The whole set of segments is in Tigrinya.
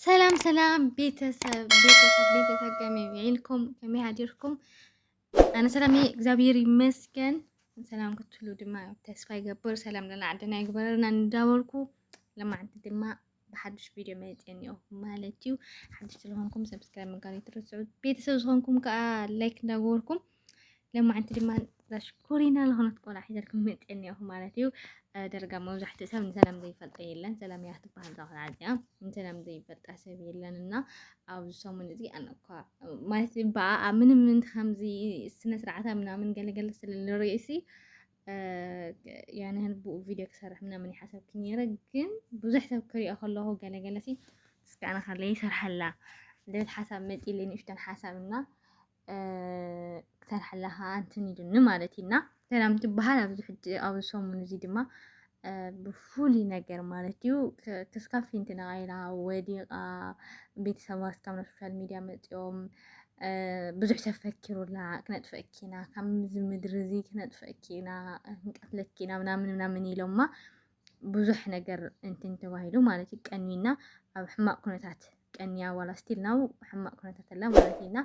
ሰላም ሰላም ቤተሰብ ቤተሰብ ቤተሰብ ከመይ ውዒልኩም ከመይ ሃዲርኩም ኣነ ሰላም እየ እግዚኣብሔር ይመስገን ሰላም ክትሉ ድማ ተስፋ ይገብር ሰላም ለና ዓድና ይግበረና እንዳበልኩ ለማዓንቲ ድማ ብሓዱሽ ቪድዮ መፅአኒኦ ማለት እዩ ሓዱሽ ስለሆንኩም ሰብስክራይብ ምግባር ይትረስዑ ቤተሰብ ዝኾንኩም ከዓ ላይክ እንዳገበርኩም ለማዓንቲ ድማ ዛሽኮሪና ዝኾነት ቆልዓ ሒዘልኩም መፅኤ እኒኦኹ ማለት እዩ ደርጋ መብዛሕትኡ ሰብ ንሰላም ዘይፈልጠ የለን ሰላም እያ ትበሃል እዛ ቆልዓ እዚኣ ንሰላም ዘይፈልጣ ሰብ የለን እና ኣብዚ ሰሙን እዚ ኣነ እኳ ማለት ብኣኣ ምንም ከምዚ ስነ ስርዓታ ምናምን ገለገለ ስለንርእሲ ያን ያህል ብኡ ቪድዮ ክሰርሕ ምናምን ይሓሰብክ ነይረ ግን ብዙሕ ሰብ ክሪኦ ከለኹ ገለገለ ሲ እስኪ ኣነ ከለይ ይሰርሐላ ልብል ሓሳብ መፂ ኢለይ ንእሽተን ሓሳብ እና ክትሰርሓ ኣለኻ ኣንትን ኢሉ ንማለት እዩና ሰላም ትበሃል ኣብዚ ሕጂ ኣብዚ ሰሙን እዚ ድማ ብፍሉይ ነገር ማለት እዩ ክስካብ ፊንቲ ነቓኢላ ወዲቓ ቤተሰባ ስካብ ናብ ሶሻል ሚድያ መፂኦም ብዙሕ ተፈኪሩላ ክነጥፈኪና ካብዚ ምድሪ እዚ ክነጥፈኪና ክንቀትለኪና ምናምን ምናምን ኢሎማ ብዙሕ ነገር እንትን ተባሂሉ ማለት እዩ ቀኒና ኣብ ሕማቅ ኩነታት ቀኒያ ዋላ ስቲል ናው ሕማቅ ኩነታት ኣላ ማለት እዩና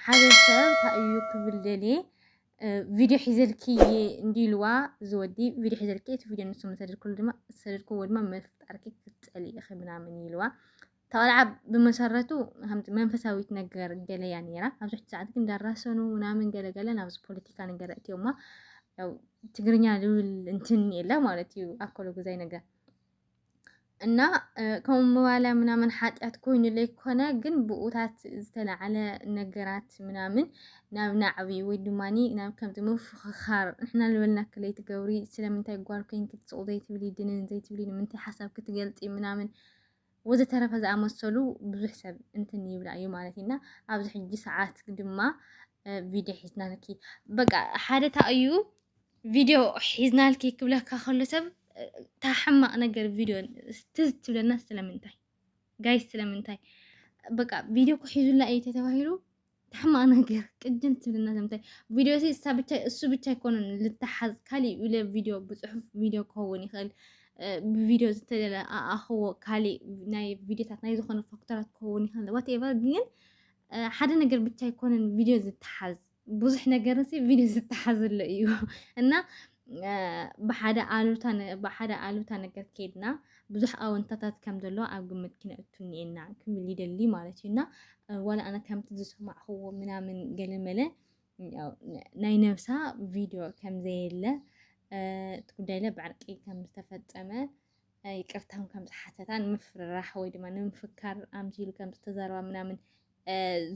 ሓደ ሰብ እንታይ እዩ ክብል ደልየ ቪድዮ ሒዘልኪ እንዲ ኢልዋ ዝወዲ ቪድዮ ሒዘልኪ እቲ ቪድዮ ንሱ መሰደድክሉ ድማ ዝሰደድክዎ ድማ መፍጣርኪ ክትፀሊ ኢኺ ምናምን ኢልዋ እታ ቆልዓ ብመሰረቱ ከምቲ መንፈሳዊ ትነገር ገለ እያ ነይራ። ኣብዚ ሕጂ ሰዓት ግን እንዳራሰኑ ምናምን ገለ ገለ ናብዚ ፖለቲካ ነገር እትዮማ ያው ትግርኛ ልብል እንትን የለ ማለት እዩ ኣኮሎ ግዛይ ነገር እና ከምኡ ምባላ ምናምን ሓጢኣት ኮይኑ ዘይኮነ ግን ብኡታት ዝተላዓለ ነገራት ምናምን ናብ ናዕቢ ወይ ድማ ናብ ከምቲ ምፍኽኻር ንሕና ልበልና ክለይ ትገብሪ ስለምንታይ ጓል ኮይንኪ ትስቑ ዘይትብሊ ድንን ዘይትብሊ ንምንታይ ሓሳብ ክትገልፂ ምናምን ወዘተረፈ ዝኣመሰሉ ብዙሕ ሰብ እንትን ይብላ እዩ ማለት እዩ እና ኣብዚ ሕጂ ሰዓት ድማ ቪድዮ ሒዝናልኪ በቃ ሓደ እታ እዩ ቪድዮ ሒዝናልኪ ክብለካ ከሎ ሰብ እታ ሕማቕ ነገር ቪድዮ ትዝ ትብለና ስለምንታይ ጋይስ ስለምንታይ በቃ ቪድዮ ክሒዙላ እዩ ተተባሂሉ ሕማቅ ነገር ቅጅን ትብልና ዘምታይ ቪድዮ ሲ እሳ ብቻ እሱ ብቻ ኣይኮነን ልተሓዝ ካሊእ ኢለ ቪድዮ ብፅሑፍ ቪድዮ ክኸውን ይኽእል ብቪድዮ ዝተደለ ኣኣኽዎ ካሊእ ናይ ቪድዮታት ናይ ዝኾነ ፋክተራት ክኸውን ይኽእል ዋትኤቨር ግን ሓደ ነገር ብቻ ኣይኮነን ቪድዮ ዝተሓዝ ብዙሕ ነገር ሲ ቪድዮ ዝተሓዝለ እዩ እና ብሓደ ኣሉታ ነገር ከይድና ብዙሕ ኣወንታታት ከም ዘለዎ ኣብ ግምት ክነእቱ እኒኤና ክብል ይደሊ ማለት እዩ እና ዋላ ኣነ ከምቲ ዝሰማዕኽዎ ምናምን ገለመለ ናይ ነብሳ ቪድዮ ከም ዘየለ እቲ ጉዳይለ ብዕርቂ ከም ዝተፈፀመ ይቅርታ ውን ከም ዝሓተታ ንምፍርራሕ ወይ ድማ ንምፍካር ኣምሲሉ ከም ዝተዛረባ ምናምን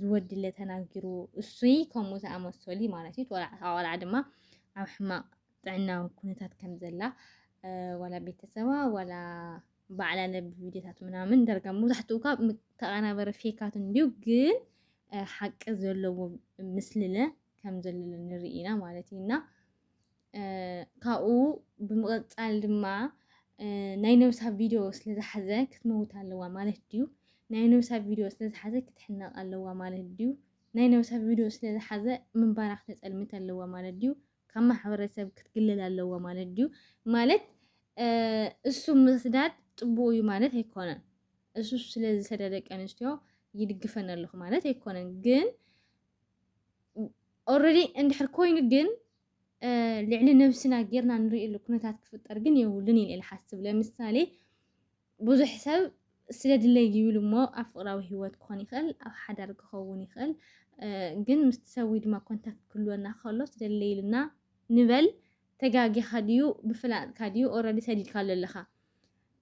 ዝወድለ ተናጊሩ እሱይ ከምኡ ዝኣመሰሉ እዩ ማለት እዩ። ወላ እታ ቆልዓ ድማ ኣብ ሕማቅ ጥዕናዊ ኩነታት ከም ዘላ ወላ ቤተሰባ ወላ ባዕላ ለብ ቪድዮታት ምናምን ደርጋ መብዛሕትኡ ካብ ተቀናበረ ፌካት እንዲዩ ግን ሓቂ ዘለዎ ምስልለ ከም ዘለለ ንርኢ ኢና ማለት እዩ እና ካብኡ ብምቕጻል ድማ ናይ ነብሳ ቪድዮ ስለ ዝሓዘ ክትመውት ኣለዋ ማለት ድዩ? ናይ ነብሳ ቪድዮ ስለ ዝሓዘ ክትሕነቕ ኣለዋ ማለት ድዩ? ናይ ነብሳ ቪድዮ ስለ ዝሓዘ ምንባራ ክተጸልምት ኣለዋ ማለት ድዩ? ካብ ማሕበረሰብ ክትግልል ኣለዋ ማለት ድዩ? ማለት እሱ ምስዳድ ጽቡቕ እዩ ማለት ኣይኮነን። እሱ ስለ ዝሰደ ደቂ ኣንስትዮ ይድግፈን ኣለኹ ማለት ኣይኮነን። ግን ኦልሬዲ እንድሕር ኮይኑ ግን ልዕሊ ነብስና ጌርና ንርእየሉ ኩነታት ክፍጠር ግን የብሉን ኢለ ልሓስብ ለምሳሌ ብዙሕ ሰብ ስለ ድለይ ይብል እሞ ኣብ ፍቅራዊ ሂወት ክኾን ይኽእል ኣብ ሓዳር ክኸውን ይኽእል ግን ምስቲ ሰብ ወይ ድማ ኮንታክት ክህልወና ከሎ ስደለይ ኢልና ንበል ተጋጊኻ ድዩ ብፍላጥካ ድዩ ኦልሬዲ ሰዲድካ ኣሎ ኣለኻ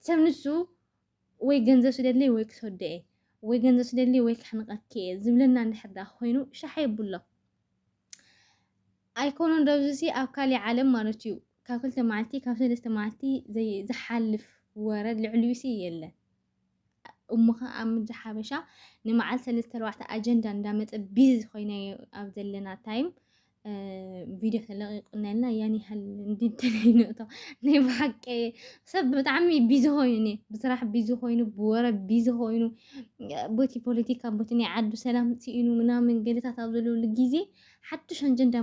ሰብ ንሱ ወይ ገንዘብ ስደለይ ወይ ክሰዶ እየ ወይ ገንዘብ ስደለይ ወይ ክሕንቀኪ እየ ዝብለና እንድሕር ዳ ኮይኑ ሻሓ የብሎ ኣይኮነን ዶብዚሲ ኣብ ካሊእ ዓለም ማለት እዩ ካብ ክልተ መዓልቲ ካብ ሰለስተ መዓልቲ ዝሓልፍ ወረ ልዕሊዩሲ የለን። እሞ ኸ ኣብ ምድሪ ሓበሻ ንመዓል ሰለስተ ኣርባዕተ ኣጀንዳ እንዳመፀ ቢዚ ኮይነ ኣብ ዘለና ታይም ቪድዮ ተለቂቁና ኢልና ያን ያህል እንድንተለይንእቶ ናይ ብሓቂ ሰብ ብጣዕሚ ቢዚ ኮይኑ ኒ ብስራሕ ቢዚ ኮይኑ ብወረ ቢዚ ኮይኑ ቦቲ ፖለቲካ ቦቲ ናይ ዓዱ ሰላም ስኢኑ ምናምን ገለታት ኣብ ዘለሉ ግዜ ሓድሽ ኣጀንዳ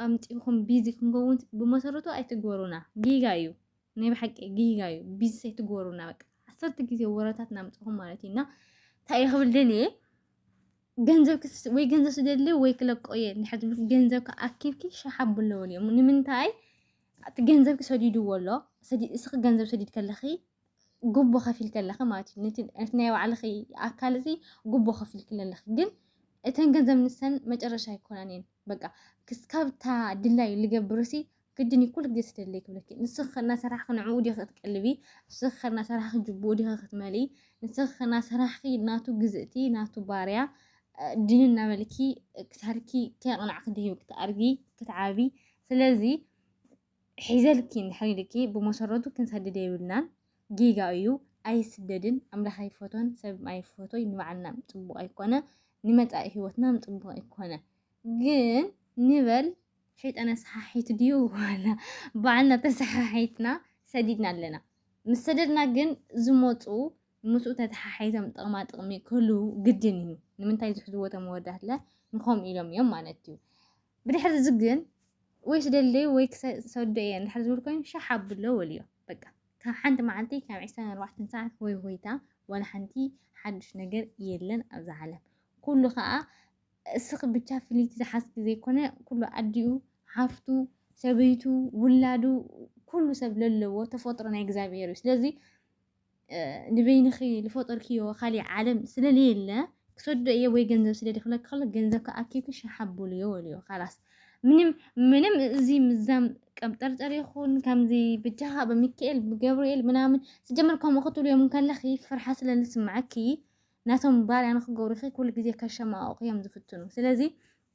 ኣምፂኹም ቢዚ ክንከውን ብመሰረቱ ኣይትግበሩና ጌጋ እዩ ናይ ብሓቂ ጌጋ እዩ ቢዚ ኣይትግበሩና በቃ ዓሰርተ ግዜ ወረታት ናምፅኹም ማለት እዩ እና እንታይ እየ ክብል ደልየ ገንዘብ ወይ ገንዘብ ስደሊ ወይ ክለቆ እየ ንድሕር ትብል ገንዘብ ከኣኪብኪ ሸሓ ብለወል እዮም ንምንታይ እቲ ገንዘብ ክሰዲድዎ ኣሎ እስኺ ገንዘብ ሰዲድ ከለኺ ጉቦ ከፊልኪ ኣለኺ ማለት እዩ ነቲ ነቲ ናይ ባዕልኺ ኣካል እዚ ጉቦ ከፊልኪ ኣለኺ ግን እተን ገንዘብ ንሰን መጨረሻ ኣይኮናን እየን በቃ ክስካብታ ድላዩ ልገብርሲ ግድን እዩ ኩሉ ግዜ ስደለይ ክብለኪ ንስኺ እናሰራሕኺ ንዕኡ ዲኺ ክትቀልቢ ንስኺ እናሰራሕኺ ጅቡኡ ዲኺ ክትመልኢ ንስኺ እናሰራሕኺ ናቱ ግዝእቲ ናቱ ባርያ ድን እናበልኪ ክሳርኪ ከይቕናዕኪ ድሂብኪ ትኣርጊ ክትዓቢ ስለዚ ሒዘልኪ እንድሕር ኢሉኪ ብመሰረቱ ክንሰድድ የብልናን ጌጋ እዩ ኣይስደድን ኣምላኽ ኣይፈቶን ሰብ ኣይፈቶይ ንባዕልና ፅቡቅ ኣይኮነ ንመፃኢ ሂወትና ፅቡቅ ኣይኮነ ግን ንበል ሸይጣን ኣሰሓሒት ድዩ ዋላ ባዕልና ተሰሓሒትና ሰዲድና ኣለና ምስ ሰደድና ግን ዝመፁ ምስኡ ተተሓሒዞም ጥቕማ ጥቕሚ ክህልው ግድን እዩ። ንምንታይ ዝሕዝዎ እቶም ኣወዳትለ ንኸምኡ ኢሎም እዮም ማለት እዩ። ብድሕሪ እዚ ግን ወይ ስደለይ ወይ ክሰዶ እየ እንድሕር ዝብል ኮይኑ ሻሕ ኣብሎ ወልዮ በቃ ካብ ሓንቲ መዓልቲ ካብ ዕስራን ኣርባዕተን ሰዓት ሆይ ሆይታ ዋላ ሓንቲ ሓዱሽ ነገር የለን ኣብዛ ዓለም ኩሉ ከዓ እስኺ ብቻ ፍልይቲ ዝሓዝኪ ዘይኮነ ኩሉ ኣዲኡ ሓፍቱ ሰበይቱ ውላዱ ኩሉ ሰብ ለለዎ ተፈጥሮ ናይ እግዚኣብሔር እዩ ስለዚ ንበይንኺ ልፈጠርክዮ ካሊእ ዓለም ስለለየለ ክሰዶ እየ ወይ ገንዘብ ስደዲ ክብለኪ ከሎ ገንዘብ ከኣኪብኪ ሸሓቡሉ እየ ወልዮ ካላስ ምንም ምንም እዚ ምዛም ቀብጠርጠር ይኹን ከምዚ ብጃኻ ብሚካኤል ብገብርኤል ምናምን ስጀምር ከምኡ ክትብልዮም ከለኺ ፍርሓ ስለ ዝስምዓኪ ናቶም ባርያ ንክገብሩኺ ኩሉ ግዜ ከሸማቕቑ እዮም ዝፍትኑ ስለዚ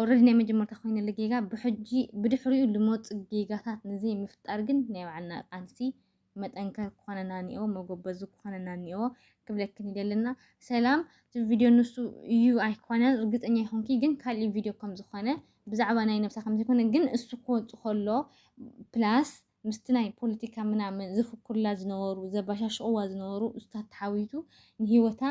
ኦረዲ ናይ መጀመርታ ኮይነሉ ጌጋ ብሕጂ ብድሕሪኡ ልመፁ ጌጋታት ንዘይ ምፍጣር ግን ናይ ባዕልና ቃልሲ መጠንከር ክኾነና እኒኦ መጎበዙ ክኾነና እኒኦ ክብለክን ይደለና ሰላም እቲ ቪድዮ ንሱ እዩ ኣይኮነን እርግጠኛ ይኹንኪ ግን ካልእ ቪድዮ ከም ዝኾነ ብዛዕባ ናይ ነብሳ ከም ዘይኮነ ግን እሱ ክወፁ ከሎ ፕላስ ምስቲ ናይ ፖለቲካ ምናምን ዘፍኩርላ ዝነበሩ ዘባሻሽቕዋ ዝነበሩ እሱታት ተሓዊቱ ንሂወታ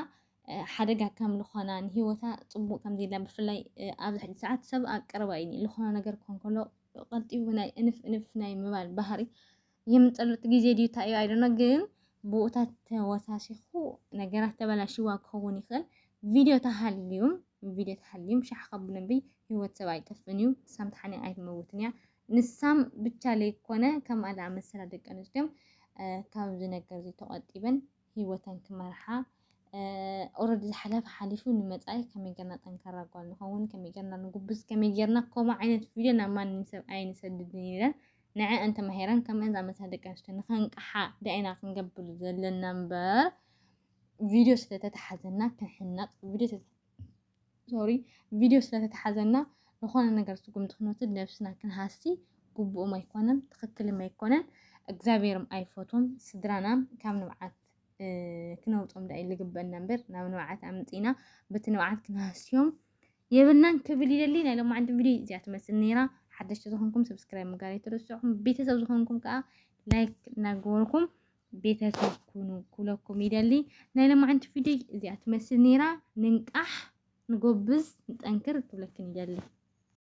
ሓደጋ ከም ልኾና ንሂወታ ጽቡቕ ከም ዘይላ ብፍላይ ኣብዚ ሕጂ ሰዓት ሰብ ኣብ ቀረባ እዩ ልኾነ ነገር ክኾን ከሎ ቀልጢፉ ናይ እንፍ እንፍ ናይ ምባል ባህሪ የምንጸሉ እቲ ግዜ ድዩ እንታይ እዩ ኣይደኖ ግን ብኡታት ተወሳሲኹ ነገራት ተበላሽዋ ክኸውን ይኽእል ቪድዮ ተሃልዩም ቪድዮ ተሃልዩም ሻሕ ከብሉ እምበይ ሂወት ሰብ ኣይጠፍእን እዩ ሳምትሓኒ ኣይትመውትን እያ ንሳም ብቻ ለይኮነ ከምኣ ዝኣመሰላ ደቂ ኣንስትዮም ካብዚ ነገር እዚ ተቆጢበን ሂወተን ክመርሓ ኦረዲ ዝሓለፈ ሓሊፉ ንመፃኢ ከመይ ጌርና ጠንካራ ጓል ንኸውን ከመይ ጌርና ንጉብዝ ከመይ ጌርና ከምኡ ዓይነት ቪድዮ ናብ ማንም ሰብ ኣይንሰድድን ኢለን ንዐአን ተማሂረን ከምአን ዝኣመሰላ ደቂ ኣንስትዮ ንኸንቅሓ ዳኢና ክንገብር ዘለና እምበር ቪድዮ ስለተተሓዘና ክንሕነቕ ቪድዮ ሶሪ ቪድዮ ስለ ተታሓዘና ንኾነ ነገር ስጉምቲ ክንወስድ ነብስና ክንሃሲ ግቡእም ኣይኮነን ትኽክልም ኣይኮነን እግዚኣብሔርም ኣይፈትዎም ስድራናም ካብ ንብዓት ክነውጾም ዳእዩ ዝግበአና እምበር ናብ ንብዓት ኣምጺና በቲ ንብዓት ክንሃስዮም የብልናን ክብል ይደሊ ናይ ሎማዓንቲ ቪድዮ እዚኣ ትመስል ነይራ ሓደሽቲ ዝኾንኩም ሰብስክራይብ ምግባር ኣይትርስዑ ቤተሰብ ዝኾንኩም ከዓ ላይክ እናገበርኩም ቤተሰብ ኩኑ ኩለኩም ይደሊ ናይ ለማዓንቲ ቪድዮ እዚኣ ትመስል ነይራ ንንቃሕ ንጎብዝ ንጠንክር ክብለክን ይደሊ